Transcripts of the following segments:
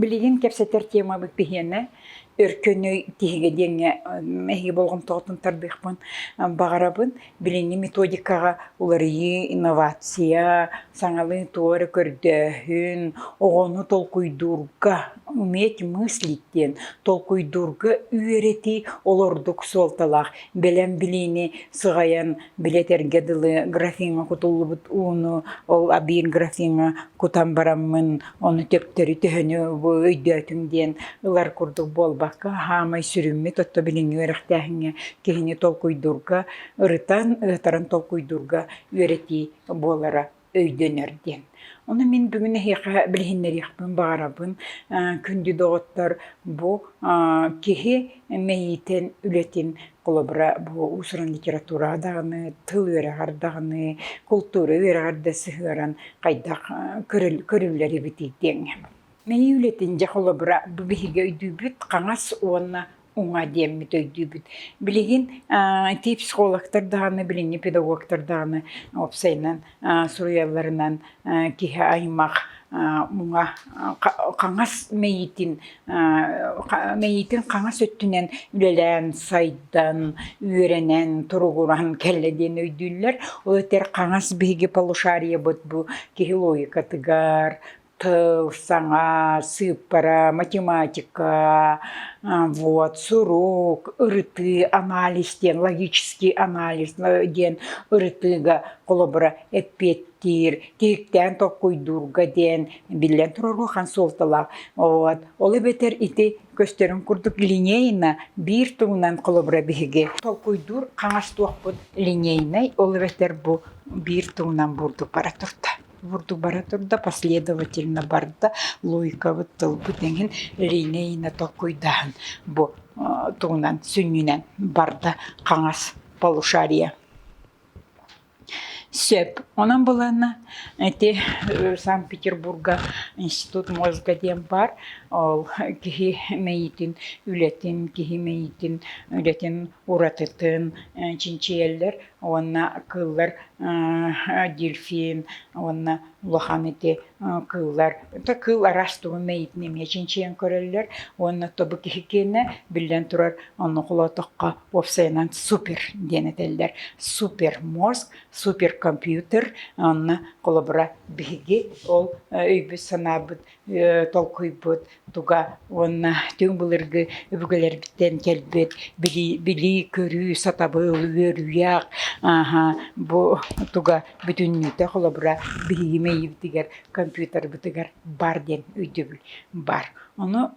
Билигин кэпсэтэр темабыт биһиэнэ Өркөнүй тиһигэ диэҥҥэ эһиги болҕомтоҕутун тардыахпын баҕарабын. Билиҥҥи методикаҕа уларыйыы, инновация, саҥалыы туох эрэ көрдөөһүн, оҕону толкуйдуурга уметь мыслить диэн толкуйдуурга үөрэтии олордук суолталаах. Бэлэм билиини сыҕайан билэтэргэ дылы графиҥҥа кутуллубут ууну, ол абиир графиҥҥа кутан бараммын, ону төптөрү төһөнү өйдөөтүҥ диэн ылар курдук буолбакка, хаамай сүрүммүт, отто билиҥҥи үөрэхтээһиҥҥэ киһини толкуйдуурга, ырытан, ытаран толкуйдуурга үөрэтии буолара өйдөнөр диэн. Ону мин бүгүн эһиэхэ билиһиннэриэхпин баҕарабын. Күндү доҕоттор, бу киһи мэйиитин, үлэтин, холобура, бу уусуран литератураҕа даҕаны, тыл үөрэҕэр даҕаны, култуура үөрэҕэр да сыһыаран хайдах көрүллэр эбитий диэҥ. Мэйии үлэтин дьэ холобура бу биһиги өйдүүбүт хаҥас уонна уҥа диэммит өйдүүбүт. Билигин ити психологтар даҕаны, билиҥҥи педагогтар даҕаны уопсайынан суруйалларынан киһи аймах муҥа хаҥас мэйиитин мэйиитин хаҥас өттүнэн үлэлээн сайдан үөрэнэн туругуран кэллэ диэн өйдүүллэр ол этэр хаҥас биһиги полушариебыт бу киһи логикатыгар Тыл, саҥа, сыыппара, математика, вот, сурук, ырытыы, анализ диэн, логический анализ диэн ырытыыга холобура эппиэттиир, тиһиктээн толкуйдуурга диэн, биллэн турар, улахан суолталаах. Вот. Ол эбэтэр ити көстөрүн курдук линейно биир тугунан холобура биһиги толкуйдуур хаҥас туохпут линейнэй, ол эбэтэр бу биир тугунан бурдук бара турда. Бурдук бара турда, последовательно барда, Луйкабыт тылбыт эҥин Риня Ина толкуйдааһын бу тугунан сүнньүнэн барда хаҥас полушария Сөп. Онон былаанна ити Санкт-Петербурга институт мозга диэн баар. Ол киһи мэйиитин, үлэтин, киһи мэйиитин, үлэтин уратытын чинчийэллэр. уонна кыыллар дельфин уонна улахан ити кыыллар это кыыл араас тугун мэйиитин эмиэ чинчийэн көрөллөр уонна тобу киһикиэнэ биллэн турар ону холоотоххо уопсайынан супер диэн этэллэр супер мозг супер компьютер онно холобура биһиги ол өйбүт санаабыт толкуйбут туга уонна түҥ былыргы өбүгэлэрбиттэн кэлбит билии-көрүү, сатабыл, үөрүйэх бу туга бүтүннүүтэ холобура биһиги мэйиибитигэр, компьютербытыгар баар диэн өйдөбүл баар. Ону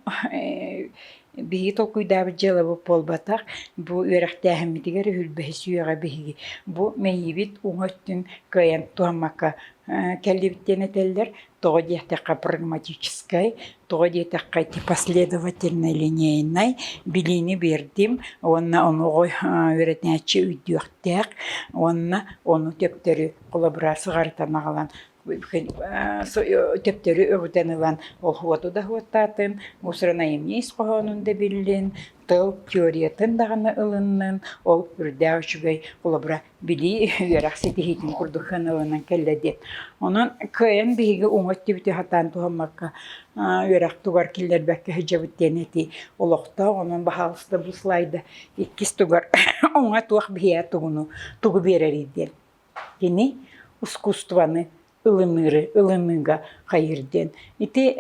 биһиги толкуйдаабыт дьыалабыт буолбатах. Бу үөрэхтээһиммитигэр үһүл бэһис үйэҕэ биһиги бу мэйиибит уҥа өттүн кыайан туһаммакка кэллибит диэн этэллэр. Тоҕо диэтэххэ прагматическай, тоҕо диэтэххэ ити последовательнай линейнай билиини биэрдим уонна ону үөрэтээччи өйдүөхтээх уонна ону төптөрү коллаборацияҕа аҕалан төптөрү өҕүтэн ылан уоту да уоттаатын, уус уран айымньы ис хоһоонун да биллин, тыл теориятын даҕаны ылыннын, ол үрдээх үчүгэй холобура билии үөрэх ситиһиитин курдук сыаналанан кэллэ диэн. Онон кыайан биһиги уҥа өттүбүтү хатаан туһаммакка үөрэх тугар киллэрбэккэ сылдьабыт диэн этии олохтоох. Онон баһаалыста бу слайда иккис тугар уҥа туох биһиэхэ тугуну тугу биэрэрий диэн. Кини ускуустубаны ылыныыры ылыныыга хайыыр диэн. Ити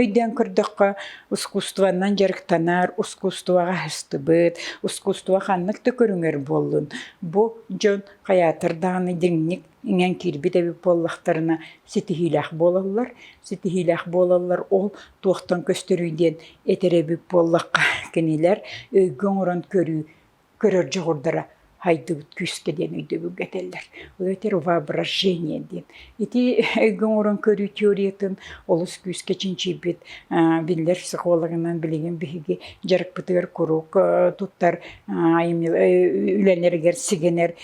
өйдөөн көрдөххө, ускусствоннан дьарыктанар, ускусствоҕа аһыстыбыт, ускусство ханнык да көрүҥэр буоллун, бу дьон хайаатар даҕаны дьиҥник иҥэн киирбит эбит буоллахтарына ситиһиилээх буолаллар. Ситиһиилээх буолаллар ол туохтан көстөрүй диэн этэр эбит буоллахха кинилэр өйгө оҥорон көрүү көрөр дьоҕурдара хайдыбыт күүскэ диэн өйдөбүлгэ этэллэр. Это воображение диэн. Ити өйгө оҥорон көрүү теориятын олус күүскэ чинчийбит биллэр психологынан билигин биһиги дьарыкпытыгар куруук туттар үлэлэригэр сигэнэр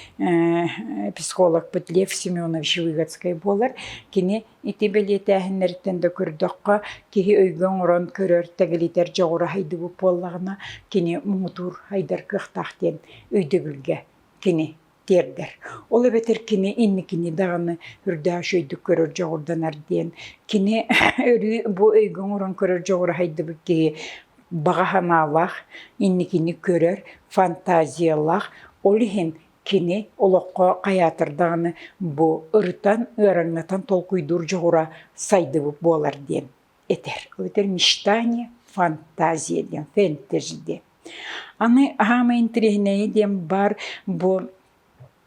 психологпыт Лев Семенович Выгодскай буолар. Кини Ити бэлиэтээһиннэриттэн да көрдөххө, киһи өйгө оҥорон көрөр, тэгэлитэр дьоҕура сайдыбыт буоллаҕына, кини муҥутуур, сайдар кыахтаах диэн өйдөбүлгэ кини тиэрдэр. Ол эбэтэр кини инникини даҕаны үрдээх үчүгэйдик көрөр дьоҕурданар диэн кини өрүү бу өйгө оҥорон көрөр дьоҕура сайдыбыт киһи баҕа санаалаах, инникини көрөр, фантазиялаах, ол иһин Кини олоххо хайаатар даҕаны бу ырытан, ыараҥнатан толкуйдуур дьоҕура сайдыбыт буолар диэн этэр. Этэр мечтание, фантазия диэн, фэнтези диэн. Аны хаамай интириэһинэйэ диэн баар бу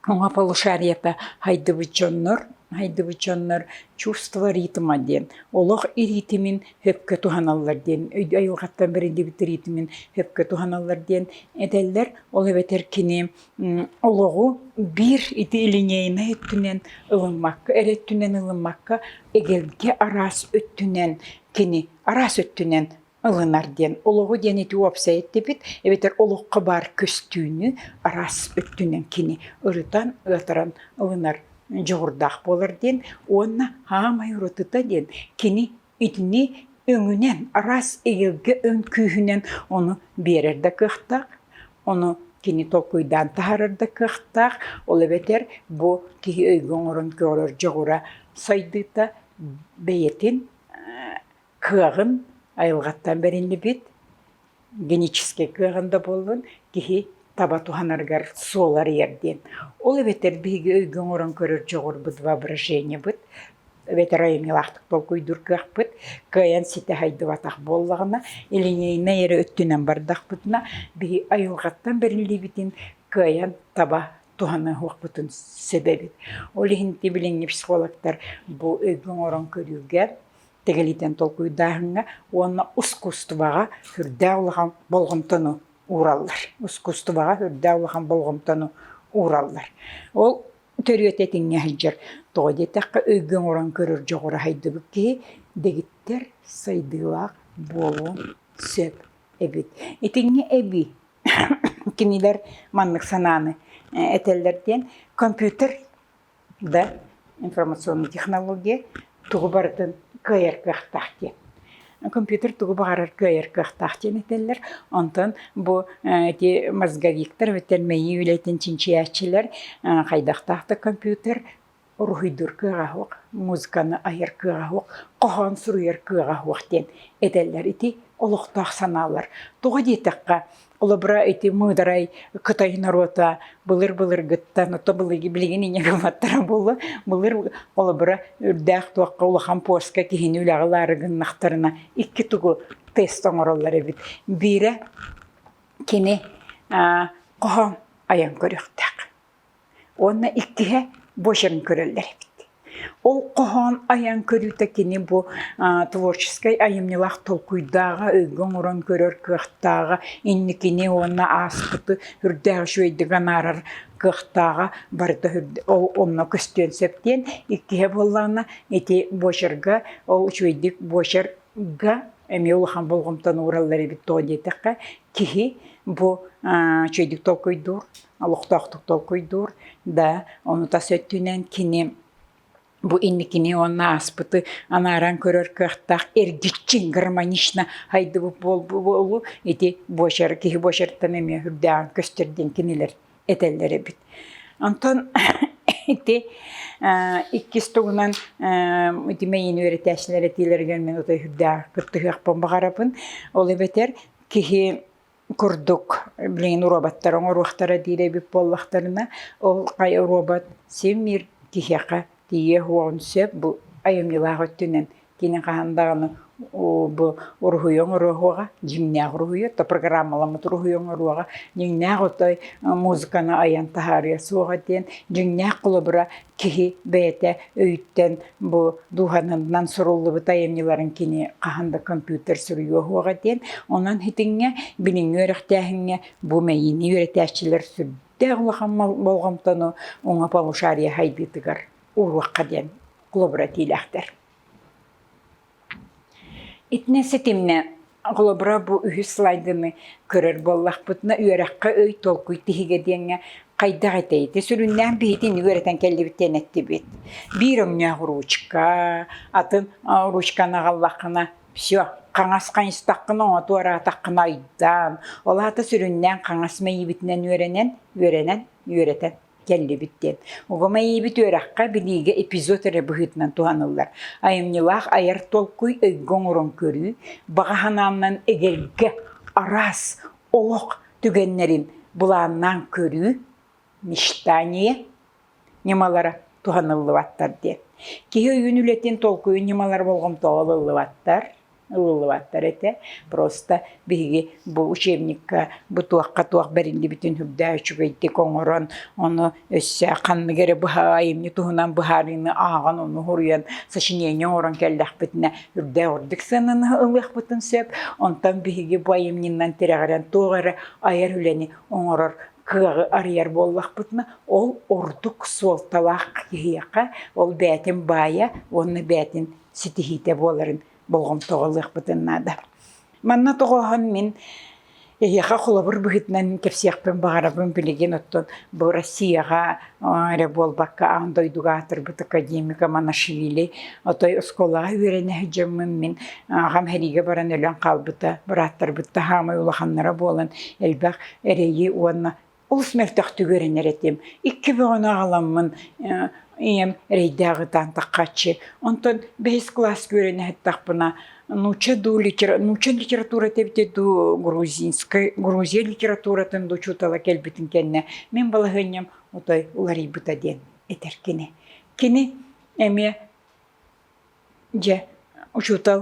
уҥа полушарията хайдыбыт дьоннор, хайдыбыт дьоннор чувство ритма диэн олох ритмин өккө туһаналлар диэн өйдүү айылҕаттан бэриллибит тириитимин өккө туһаналлар диэн этэллэр. Ол эбэтэр кини олоҕу биир ити линейнай өттүнэн ылыммакка, эр өттүнэн ылыммакка эгэлгэ араас өттүнэн кини араас өттүнэн ылынар диэн олоҕу диэн ити уопсай эттибит эбэтэр олоххо баар көстүүнү араас өттүнэн кини ырытан, ыатаран ылынар дьоҕурдаах буолар диэн уонна хаамай уратыта диэн кини итини өҥүнэн араас эйэлгэ өҥ күүһүнэн ону биэрэр да кыахтаах ону кини толкуйдаан таһаарар да кыахтаах ол эбэтэр бу киһи өйгө оҥорон көрөр дьоҕура сайдыыта бэйэтин кыаҕын айылҕаттан бэриллибит геническэй кыаҕын да буоллун киһи таба туһанарыгар суоларыйар диэн. Ол эбэтэр биһиги өйгө оҥорон көрөр дьоҕурбут воображениебыт эбэтэр айымньылаахтык толкуйдуур кыахпыт кыайан ситэ сайдыбатах буоллаҕына, илиҥэйнэй эрэ өттүнэн бардахпытына, биһи айылҕаттан бэриллиибитин кыайан таба туһаныахпытын сөбөбүт. Ол иһин ити билиҥҥи психологтар бу өйгө оҥорон көрүүгэ тэгэлитэн толкуйдааһыҥҥа уонна ускуустубаҕа үрдээх улахан болҕомтону уураллар. Ускуустубаҕа үрдээх улахан болҕомтону уураллар. Ол төрүөтэ этиҥҥэ сылдьар. Тоҕо диэтэххэ, өйгө оҥорон көрөр дьоҕура сайдыбыт киһи дэгиттэр, сайдыылаах буолуон сөп эбит. Итинҥэ эбии кинилэр маннык санааны этэллэр диэн, компьютер да информационная технология тугу барытын кыайар кыахтаах диэн компьютер тугу баҕарар кыайар кыахтаах диэн этэллэр онтон бу ити мозговиктар эбэтэр мэйии үлэтин чинчийээччилэр хайдахтаахтык компьютер уруһуйдуур кыаҕа суох музыканы айар кыаҕа суох хоһоон суруйар кыаҕа суох диэн этэллэр ити олохтоох санаалар тоҕо диэтэххэ Олобра ити мыыдарай Кытай норуота былыр-былыргыттан, ото былыргы билигин инньэ гылматтара буолла. Былыр олобура үрдээх туохха улахан пуоска киһини үлэҕэ ылаары гыннахтарына икки тугу тест оҥороллор эбит. Биирэ кини хоһоон айан көрүөхтээх. Уонна иккиһэ бочем көрөллөр эбит. Ол хоһоон айан көрүүтэ кини бу творческай айымньылаах толкуйдааҕа, өйгө оҥорон көрөр кыахтааҕа, инникини уонна ааспыты үрдээх үчүгэйдик анаарар кыахтааҕа барыта онно көстүөн сөп диэн. Иккиһэ буоллаҕына ити бочерга ол үчүгэйдик бочерга эмиэ улахан болҕомтону уураллар эбит доо диэтэххэ киһи бу үчүгэйдик толкуйдуур олохтоохтук толкуйдуур да ону тас өттүнэн кини бу инникини уонна ааспыты анааран көрөр кыахтаах эргиччи гармонично хайдыбыт буолбу ити буочар киһи буочартан эмиэ үрдээҕин көстөр диэн кинилэр этэллэр эбит онтон ити иккис тугунан ити мэйин үөрэтээччилэр этиилэригэр мен отой үрдээх кыттыһыахпын баҕарабын ол эбэтэр киһи курдук билигин уробаттар оҥоруохтара диир эбит буоллахтарына ол хайа уробат син-биир киһиэхэ тиийиэх уоҕун сөп бу айымньылаах өттүнэн кини хаһан даҕаны бу уруһуйу оҥоруоҕа дьиҥнээх уруһуйу то программаламмыт уруһуйу оҥоруоҕа дьиҥнээх отой музыканы айан таһаарыа суоҕа диэн дьиҥнээх холобура киһи бэйэтэ өйтөн бу дууһанынан суруллубут айымньыларын кини хаһан да компьютер суруйуо суоҕа диэн онон итиҥҥэ билиҥҥи үөрэхтээһиҥҥэ бу мэйиини үөрэтээччилэр сүрдээх улахан болҕомтону уҥа полушария сайдыытыгар ууруохха диэн холобура этиилээхтэр Итиннэ ситимнэ холобура бу үһүс слайдыны көрөр буоллахпытына үөрэххэ ый толкуй тиһигэ диэҥҥэ хайдах этэй ити сүрүннээн биһитини үөрэтэн кэллибит диэн эттибит. Биир өҥнөөх ручка, атын ручканы аҕаллаххына всё хаҥас хайыстаххына оҥоту араатаххына айдаан. Ол аата сүрүннээн хаҥас мэйиибитинэн үөрэнэн үөрэнэн үөрэтэн кэллибит диэн. Угумайыыбыт үөрэххэ билиигэ эпизод эрэ быһыытынан туһаныллар. Айымньылаах айар толкуй өйгө оҥорон көрүү, баҕа санааннан эгэлгэ, араас олох түгэннэрин былааннаан көрүү, мечтание ньымалара туһаныллыбаттар диэн. Киһи өйүн үлэтин толкуйун ньымалара болҕомтоҕо ылыллыбаттар. ылыллыбаттар этэ. Просто биһиги бу учебникка бу туохха туох бэриллибитин үрдээ үчүгэйдик оҥорон, ону өссө ханнык эрэ быһаайымньы туһунан быһаарыыны ааҕан, ону хоруйан сочинение оҥорон кэллэхпитинэ үрдээ ордук сыананы ылыахпытын сөп. Онтон биһиги бу айымньынан тирэҕирэн туох эрэ айар үлэни оҥорор кыаҕы арыйар буоллахпытына, ол ордук суолталаах киһиэхэ, ол бээтин баайа уонна бээтин ситиһиитэ буоларын болҕомтоҕо ылыахпытын наада. Манна тоҕоһон мин эһиэхэ холобур быһыытынан кэпсиэхпин баҕарабын билигин оттон бу Россияҕа эрэ буолбакка аан дойдуга аатырбыт академика Манашвили отой оскуолаҕа үөрэнэ сылдьаммын мин аҕам сэриигэ баран өлөн хаалбыта бырааттарбыт таһаамай улаханнара буолан элбэх эрэйи уонна олус мөлтөхтүк үөрэнэр этим. Икки бөҕөнү аҕаламмын ийэм эрэйдээх ытаан таххаччы. Онтон бэһис класс күөрэн иһэттахпына нуучча дуу, литера... нуучча литературата эбитэ дуу, грузинскай, грузия литературатын дуу учуутала кэлбитин кэннэ мин балаһыанньам отой уларыйбыта диэн этэр кини. Кини эмиэ Дьэ, учуутал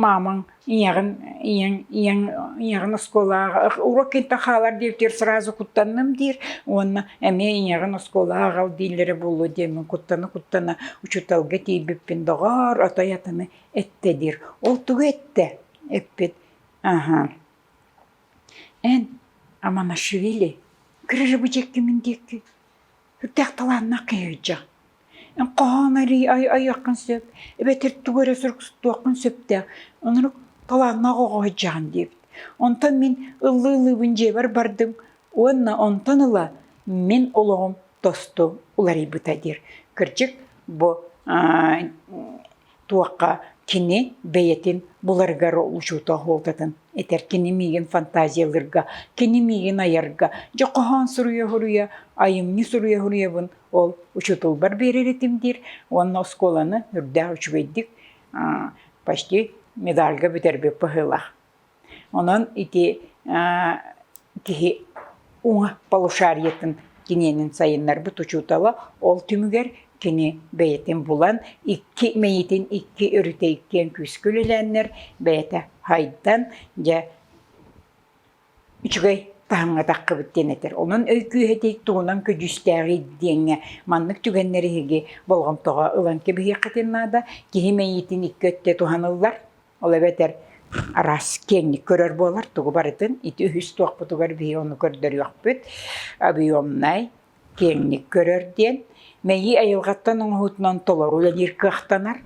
маамаҥ ийэҕин ийэҥ ийэҥ ийэҕин оскуолаҕа урут кэнниттэн хаалар диэбитигэр сразу куттанным диир уонна эмиэ ийэҕин оскуолаҕа аҕал дииллэрэ буолуо диэммин куттана-куттана учууталга тиийбиппин доҕоор отой атыны эттэ диир. Ол тугу эттэ? Эппит аһа эн Аманашвили кыра рыбачеккимин диэкки сүрдээх талааннаах киһи сылдьар Хоһоон арыый айыаххын сөп, эбэтэр тугу эрэ суруксуттуоххун сөптөөх, онурук талааннаах оҕо сылдьаҕын диэбит. Онтон мин ыллыы ылыыбын дьиэбэр бардым уонна онтон ыла мин олоҕум тосту уларыйбыта диир. Кырдьык, бу туохха кини бэйэтин буларыгар учуутал уолтатын этэр кини миигин фантазиялыырга кини миигин айарга дьэ хоһоон суруйа-суруйа айымньы суруйа-суруйабын ол учууталбар биэрэр этим диир уонна оскуоланы үрдээх үчүгэйдик почти медальга бүтэрбит быһыылаах Онон ити киһи уҥа полушариетын киниэнин сайыннарбыт учуутала ол түмүгэр кини бэйэтин булан икки мэйитин икки өрүтэ иккиэн күүскэ үлэлээннэр бэйэтэ хайдан дьэ үчүгэй таһымҥа таххыбыт диэн этэр. Онон өй күүһэ итинник тугунан көдьүүстээҕий диэҥҥэ маннык түгэннэри эһиги болҕомтоҕо ылан кэбиһиэххитин наада. Киһи мэйиитин икки өттө туһаныллар. Ол эбэтэр араас киэҥник көрөр буолар, тугу барытын ити үһүс туохпутугар биһи ону көрдөрүөхпүт, объемнай, киэҥник көрөр диэн. Мэйии айылҕаттан оҥоһуутунан толору үлэлиир кыахтанар.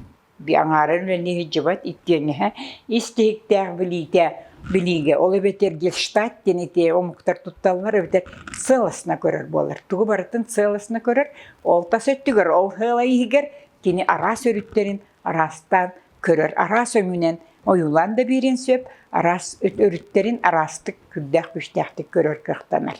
Аҥаарын үлэни иһдьибат иккиэнэһэ ис тиһиктээх билиитэ билиигэ, ол эбэтэр гельштадт диэн ити омуктар тутталлар эбэтэр сыаласына көрөр буолар. Тугу барытын сыаласына көрөр, ол тас өттүгэр, ол сыала иһигэр кини араас өрүттэрин араастаан көрөр араас өҥүнэн ойуулаан да биэриэн сөп, араас өрүттэрин араастык күрдээх-күстээхтик көрөр кыахтанар.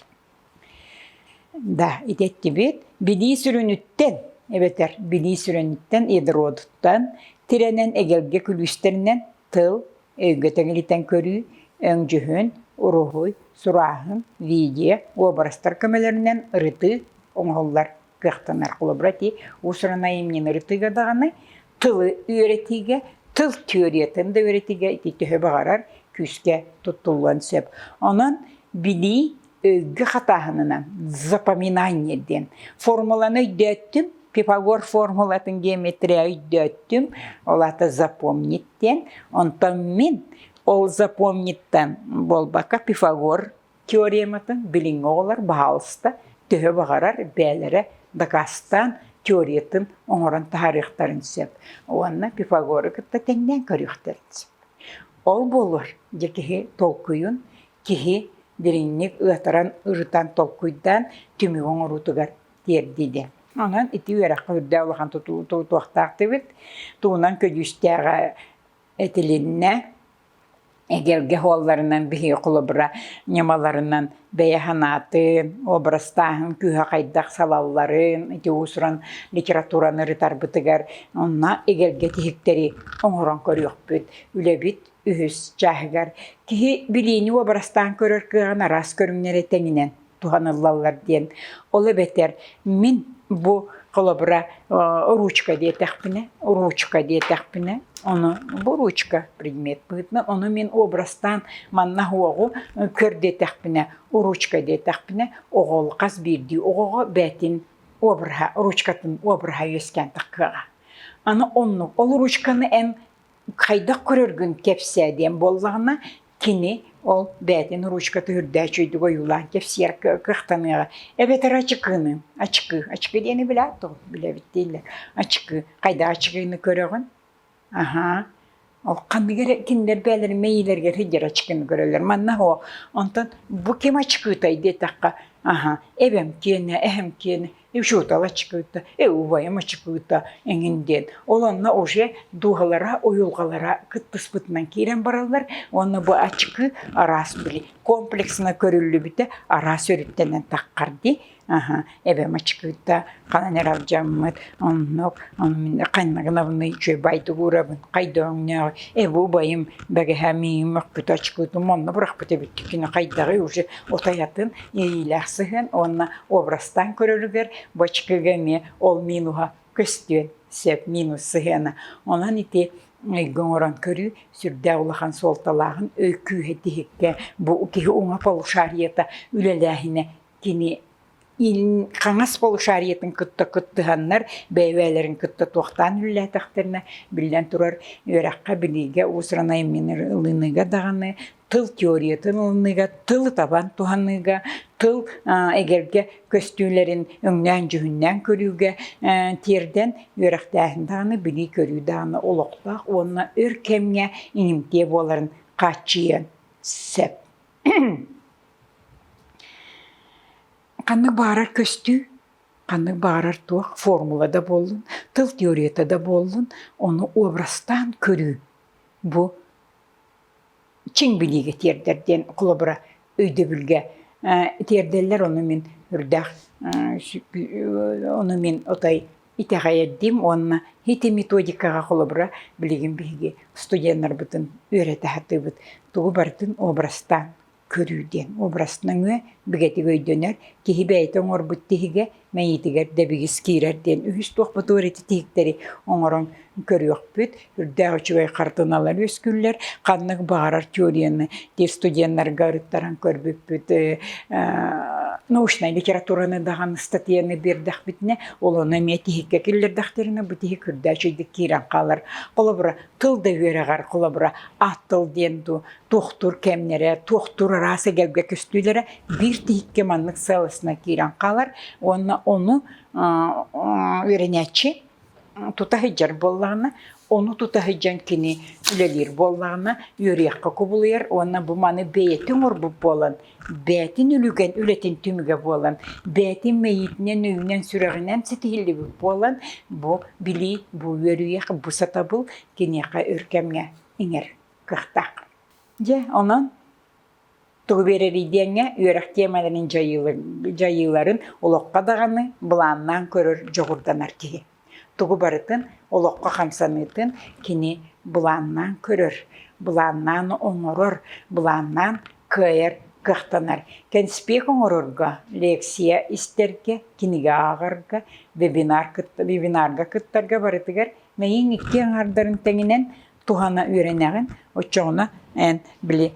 Да, ити эттибит билии сүрүнүттэн эбэтэр билии сүрүнүттэн ядродуттан, тирэнэн эгэлгэ күлүүстэринэн тыл, өйгө тэҥилитэн көрүү, өҥдьүһүн, уруһуй, сурааһын, видео, уобарастар көмөлөрүнэн ырытыы оҥоһуллар. кыахтанар холобура ти усранай имнинери тыга даҕаны тылы үөрэтиигэ тыл теориятын да үөрэтиигэ ити төһө баҕарар күүскэ туттуллуон сөп онон билии өйгө хатааһынынан запоминание диэн формуланы өйдөөттүм Пифагор формулатын геометрия өйдөөттүм ол аата запомнить диэн онтон мин ол запомниттан буолбакка Пифагор теорематын билиҥҥи оҕолор баһаалыста төһө баҕарар бэйэлэрэ дакаастаан теориятын оҥорон таһаарыахтарын сөп уонна Пифагору кытта тэҥнээн көрүөхтэрин сөп. Ол буолуор дьэ киһи толкуйун киһи дириҥник ыатаран ырытан толкуйдаан түмүк оҥоруутугар тиэрдии диэн. Онон ити үөрэххэ үрдээх улахан тутуохтаахтыбыт. Тугунан көдьүүстээх этилиннэ эгэлгэ уолларынан биһиги холобура ньамаларынан бэйэ санаатын, образтааһын күүһэ хайдах салалларын, ити уусуран литератураны ырытарбытыгар онно эгэлгэ тиһиктэри оҥорон көрүөхпүт. Үлэбит үһүс чааһыгар киһи билиини уобарастаан көрөр кыаҕын араас көрүҥнэри тэҥинэн туһаныллаллар диэн. Ол эбэтэр мин бу холобура ручка диэтэхпинэ, ручка диэтэхпинэ, ону бу ручка предмет быытына, ону мин образтан манна оҕу көр диэтэхпинэ, ручка диэтэхпинэ, оҕол хас биирдии оҕоҕо бээтин обраһа, ручкатын обраһа үөскээн тахкыаҕа. Аны оннук. Ол ручканы эн хайдах көрөргүн кэпсээ диэн буоллаҕына кини ол бэйэтин ручката үрдээх үчүгэйдик ойуулаан кэпсиэр кыахтаныаҕа эбэтэр ачыкыыны ачыкыы ачыкыы диэни билээт дуо билэбит дииллэр ачыкыы хайдах ачыкыыны көрөҕүн аһаа ол ханныгы кинилэр бэйэлэрин мэйиилэригэр сылдьар ачыкыыны көрөллөр манна оһо онтон бу ким ачыкыытай диэтэххэ аһа эбэм киэнэ эһэм киэнэ учуутала чыкыыта, э убайым чыкыыта эҥин диэн. Ол онно уже дууһалара, уйулҕалара кыттыспытынан киирэн бараллар уонна бу ачыкы араас били комплексно көрүллүбүтэ араас өрүттэнэн таххар дии аха эбэм ачыкыыта ханан эрэ алдьаммыт оннук мин ханнагынабынный үчүгэй байдугурабын хайдооҥнооҕ эбу убайым бэгэһэ миим мөккүт ачыкыытым онно бырахпыт эбит кино хайдаҕый уже утайатын иэйиилээх сыһыан уонна образтаан көрөрүгэр бачкыга эмиэ ол минуһа көстүөн сөп минус сыһыана онон ити эйгэ оҥорон көрүү сүрдээх улахан суолталааҕын өй күүһэ тиһиккэ бу киһи уҥа полушарията үлэлээһинэ кини хаҥас полушариетын кытта кыттыһаннар бэйэлэрин кытта туохтаан үлэлээтэхтэринэ биллэн турар үөрэххэ билиигэ уус-уран айымньыларыга даҕаны тыл теориятын ылыныга, тыл табан туһаныга, тыл эгэлгэ көстүүлэрин өҥнөөн-дьүһүннээн көрүүгэ тиэрдэн үөрэхтээһин дааны билии көрүү дааны олохтоох уонна өр кэмҥэ инимтиэ буоларын хааччыйыан сөп. Ханнык баарар көстүү, ханнык баарар туох формула да буоллун, тыл теорията да буоллун, ону образтаан көрүү бу чиҥ билиигэ тиэрдэр диэн клубра өйдөбүлгэ тиэрдэллэр ону мин үрдээх ону мин отой итэҕэйэрдиим уонна ити методикаҕа холобура билигин биһиги студеннарбытын үөрэтэ сатыыбыт тугу барытын образтаан көрүү диэн образ нөҥүө бигэтик өйдөнөр киһи бэйэтэ оҥорбут тиһигэ мэйиитигэр дэбигис киирэр диэн үһүс туох бутуор ити тиһиктэри оҥорон көрүөхпүт үрдээх үчүгэй хартыналар үөскүүллэр ханнык баҕарар теорияны тиз студеннарга ырыттаран көрбүппүт научнай литератураны даҕаны статьяны биэрдэхпитинэ ол ону эмиэ тиһиккэ киллэрдэхтэринэ бу тиһик үрдээх үчүгдүк киирэн хаалар холобура тыл да үөрэҕэр холобура ат тыл диэн дуу туохтуур кэмнэрэ, туохтуур араас эгэлгэ көстүүлэрэ биир тиһиккэ маннык сыалысына киирэн хаалар уонна ону үөрэнээччи тута сылдьар буоллаҕына, ону тута сылдьан кини үлэлиир буоллаҕына, үөрүйэххэ кубулуйар уонна бу маны бэйэтин оҥорбут буолан, бэйэтин үлүгэн үлэтин түмүгэ буолан, бэйэтин мэйиитинэн, өйүнэн-сүрэҕинэн ситиһиллибит буолан, бу билии, бу үөрүйэх, бу сатабыл киниэхэ өр кэмҥэ иҥэр. кыахтаах. Дьэ, онон тугу биэрэрий диэҥҥэ үөрэх тиэмэлэрин дьайыыларын олоххо даҕаны былааннаан көрөр дьоҕурданар киһи. Тугу барытын олоххо хамсаныытын кини былааннаан көрөр, былааннаан оҥорор, былааннаан кыайар кыахтанар. Кэнспиэк оҥорорго, лекция истэргэ, кинигэ ааҕарга, вебинарга кыттарга барытыгар мэйиҥ икки аҥардарын тэҥинэн туһана үөрэнэҕин оччоҕуна эн били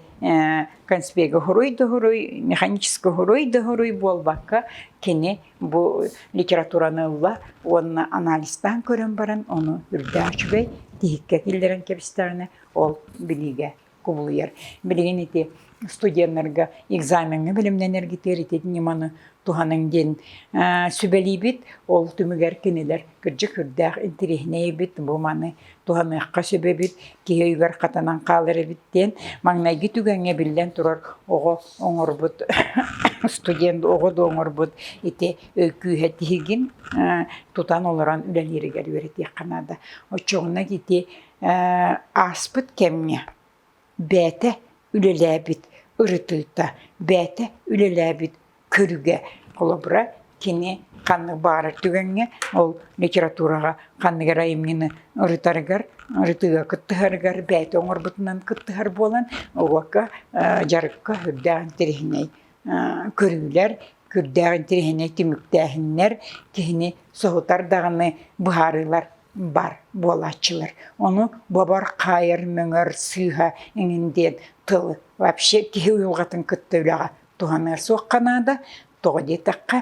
конспегі хуруй да хуруй механический хуруй да хуруй буолбакка кини бу литератураны ылла уонна анализтаан көрөн баран ону үрдээх үчүгэй тиһиккэ киллэрэн кэбистэҕинэ ол билиигэ кубулуйар билигин ити студеннарга экзамеҥҥа бэлэмнэнэргэ тиэритит ньыманы туһаныҥ диэн сүбэлиибит. Ол түмүгэр кинилэр кырдьык үрдээх интириэһинэйбит бу маны туһаныахха сөбөбүт, киһи өйүгэр хатанан хаалар эбит диэн маҥнайгы түгэҥҥэ биллэн турар оҕо оҥорбут студент оҕо да оҥорбут ити өй күүһэ тиһигин тутан олорон үлэлииригэр үөрэтиэххэ наада. Оччоҕуна ити ааспыт кэмҥэ Бэйэтэ үлэлээбит ырытыыта, бэйэтэ үлэлээбит көрүгэ. Холобура, кини ханнык баҕарар түгэҥҥэ ол литератураҕа ханнык эрэ айымньыны ырытарыгар, ырытыыга кыттыһарыгар бэйэтэ оҥорбутунан кыттыһар буолан, уокка, дьарыкка үрдээх интэриэһинэй көрүүлэр, Күрдээх интэриэһинэй түмүктээһиннэр киһини соһутар даҕаны быһаарыылар бар буолааччылар. Ону бобор, хаайар, мөҥөр сыыһа эҥин диэн тылы вообще киһи уйулҕатын кытта үлэҕэ туһаныар суохха наада. Тоҕо диэтэххэ,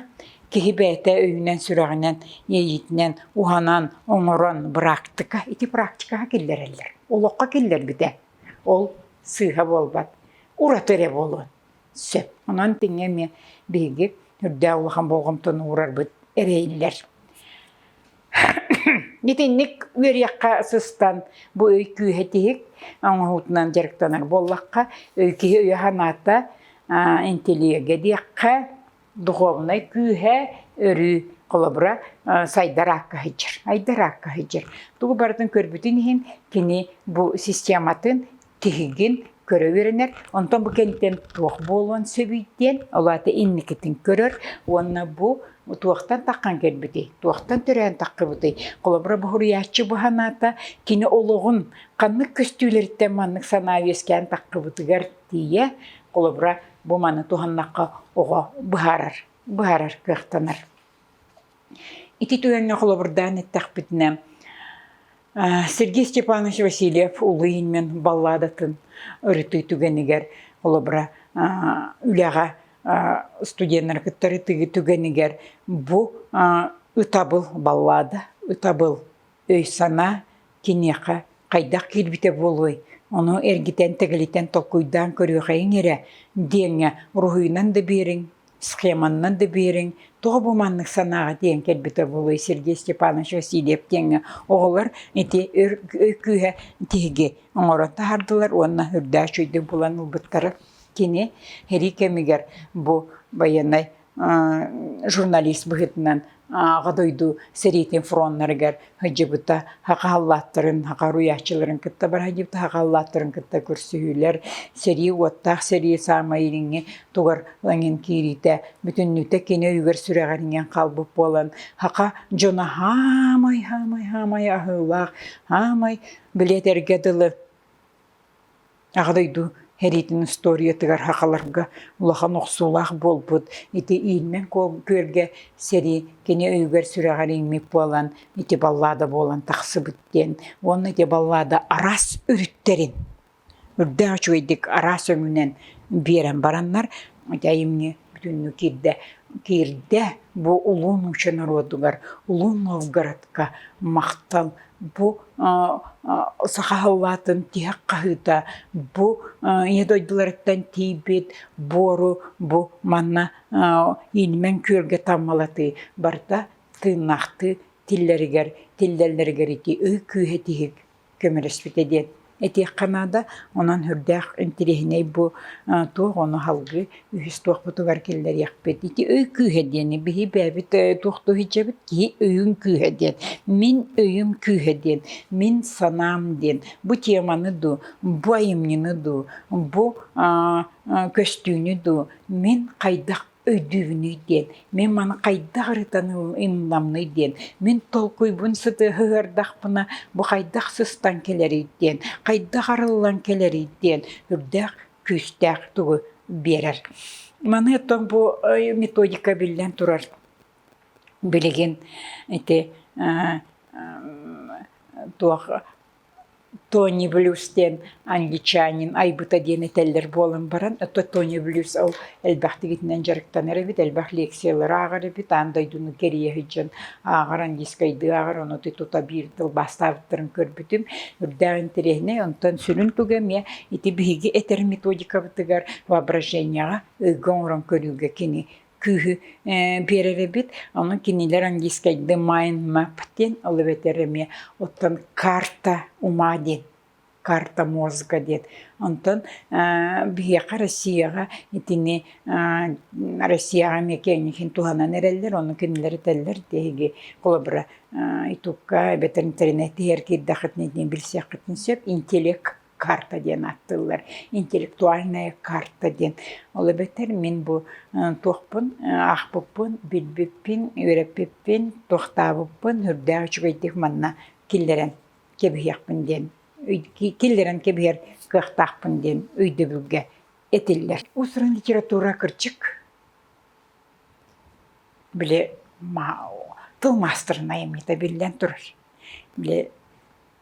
киһи бэйэтэ өйүнэн-сүрэҕинэн, иэйиитинэн уһанан, оҥорон быраактыка, ити практикаҕа киллэрэллэр. Олоххо киллэрбитэ. Ол сыыһа буолбат. Ураты эрэ буолуон. Сөп. Онон тиҥҥэ эмиэ биһиги үрдээх улахан болҕомтону уурарбыт эрэйиллэр. Итинник үөрүйэххэ сыстан бу өй күүһэ тиһик оҥоһуутунан дьарыктанар буоллахха өй киһи өйө санаата интеллигенге диэххэ духовнай күүһэ өрүү холобура сайдар аакка сылдьар айдар аакка сылдьар тугу барытын көрбүтүн иһин кини бу систематын тиһигин көрө үөрэнэр онтон бу кэнниттэн туох буолуон сөбүй диэн ол аата инникитин көрөр уонна бу туохтан таххан кэлбитий туохтан төрөөн таххыбытый холобура бу суруйааччы бу санаата кини олоҕун ханнык көстүүлэриттэн маннык санаа үөскээн таххыбытыгар тиийэ холобура бу маны туһаннахха оҕо быһаарар, быһаарар кыахтанар. Ити түгэҥҥэ холобурдаан эттэхпитинэ, Сергей Степанович Васильев Улуу Ильмин балладатын ырытыы түгэнигэр, холобура, үлэҕэ студеннары кытары түгэнигэр бу ытабыл баллада, ытабыл өй-санаа киниэхэ хайдах киирбитэ буолуой, ону эргитэн-тэгэлитэн толкуйдаан көрүөхэйиҥ эрэ диэҥҥэ уруһуйунан да биэриҥ, схеманнан да биэриҥ, тоҕо бу маннык санааҕа тиийэн кэлбитэ буолуй Сергей Степанович Васильев диэҥҥэ оҕолор ити өр өй күүһэ тиһиги оҥорон таһардылар уонна үрдээх үчүгэйдик булан ылбыттара кини сэрии кэмигэр бу байыаннай журналист быһыытынан Аҕа дойду сэриитин фроннарыгар сылдьыбыта, саха халлааттарын, саха уруйааччыларын кытта бара сылдьыбыта, саха халлааттарын кытта көрсүһүүлэр, сэрии уоттаах сэрии саамай илиҥҥи тугар лаҥын киириитэ бүтүннүүтэ кини өйүгэр сүрэҕириҥэн хаалбыт буолан саха дьоно хаамай хаамай хаамай аһыылаах, хаамай билиэтэргэ дылы Аҕа дойду сэриитин устуоруйатыгар сахаларга улахан охсуулаах буолбут. Ити Иинмэн күөлгэ сэрии кини өйүгэр сүрэҕэр иҥмит буолан, ити баллада буолан тахсыбыт диэн. Уонна ити баллада араас өрүттэрин, үрдээх үчүгэйдик араас өҥүнэн биэрэн бараннар, ити айымньы бүтүннүү киирдэ. Киирдэ бу улуу нуучча норуотугар, улуу Новгородка махтал Бу саха халлаатын тиһэх хаһыыта бу ийэ дойдуларыттан тиийбит буору бу манна инимэн күөлгэ таммалатыы барыта тыыннаахтыы тиллэригэр тиллэллэригэр ити ый күүһэ тиһик көмөлөспүтэ диэн Этиэххэ наада, онон сүрдээх интириэһинэй бу туох ону аһылгы үһүс туохпутугар киллэриэхпит. Ити өй күүһэ диэни биһи бэйэбит туох да иһдьэбит киһи өйүн күүһэ диэн. Мин өйүм күүһэ диэн. Мин санаам диэн. Бу теманы дуу, бу айымньыны дуу, бу көстүүнү дуу мин хайдах өйдүүбүнүй диэн, мин маны хайдах ырытаным, ынынамный диэн, мин толкуйбун сытыһы ыардахпына бу хайдах сыстан кэлэрий диэн, хайдах арыллан кэлэрий диэн үрдээх күүстээх тугу биэрэр. Маны оттон бу методика биллэн турар билигин ити туох Тони Блюз диэн англичанин айбыта диэн этэллэр буолан баран, ото Тони Блюз ол элбэхтигитинэн дьарыктанар эбит, элбэх лекциялары ааҕар эбит, аан дойдуну кэрийэ сылдьан ааҕар, английскайдыы ааҕар, ону тута биир тылбаастаабыттарын көрбүтүм. Үрдээх интэриэһинэй, онтон сүрүн туга эмиэ ити биһиги этэр методикабытыгар воображенияҕа, ыйга оҥорон көрүүгэ кини кыыһы биэрэрэбит ону кинилэр английскайда mind map диэн ол эбэтэр эмиэ оттон карта ума диэн карта мозга диэн онтон биһиэхэ Россияҕа итини Россияҕа эмиэ киэҥник туһанан эрэллэр ону кинилэр этэллэр тиһиги холобура итукка эбэтэр интернет иһэр киирдэххитинэ итини билсиэххитин сөп интеллект карта диэн аттыллар интеллектуальная карта диэн. Ол эбэтэр мин бу туохпун аахпыппын, билбиппин, үөрэппиппин, туохтаабыппын үрдээх үчүгэйдик манна киллэрэн кэбиһиэхпин диэн киллэрэн кэбиһэр кыахтаахпын диэн өйдөбүлгэ этиллэр. Усран литература кырчык били тыл маастырынайым это биллэн турар. Били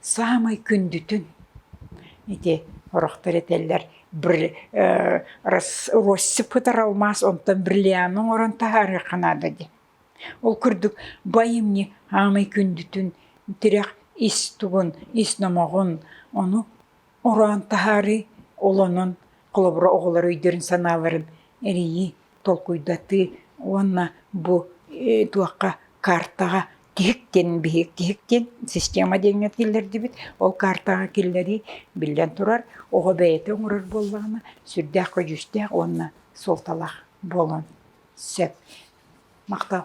Саамай күндүтүн ити орохтор этэллэр россыпытар алмаас онтон бриллианты оҥорон таһаарыахха наада диэн. Ол курдук байымньы саамай күндүтүн тирэх ис тугун, ис номоҕун ону ороон таһаарыы олонон холобура оҕолор өйдөрүн санааларын эрийии толкуйдатыы уонна бу туохха каартаҕа тиһиктин биһиктиһиктин система диэҥҥэ киллэрдибит ол каартаҕа киллэрии биллэн турар оҕо бэйэтэ оҥорор буоллаҕына сүрдээх көдьүүстээх уонна суолталаах буолуон сөп махтал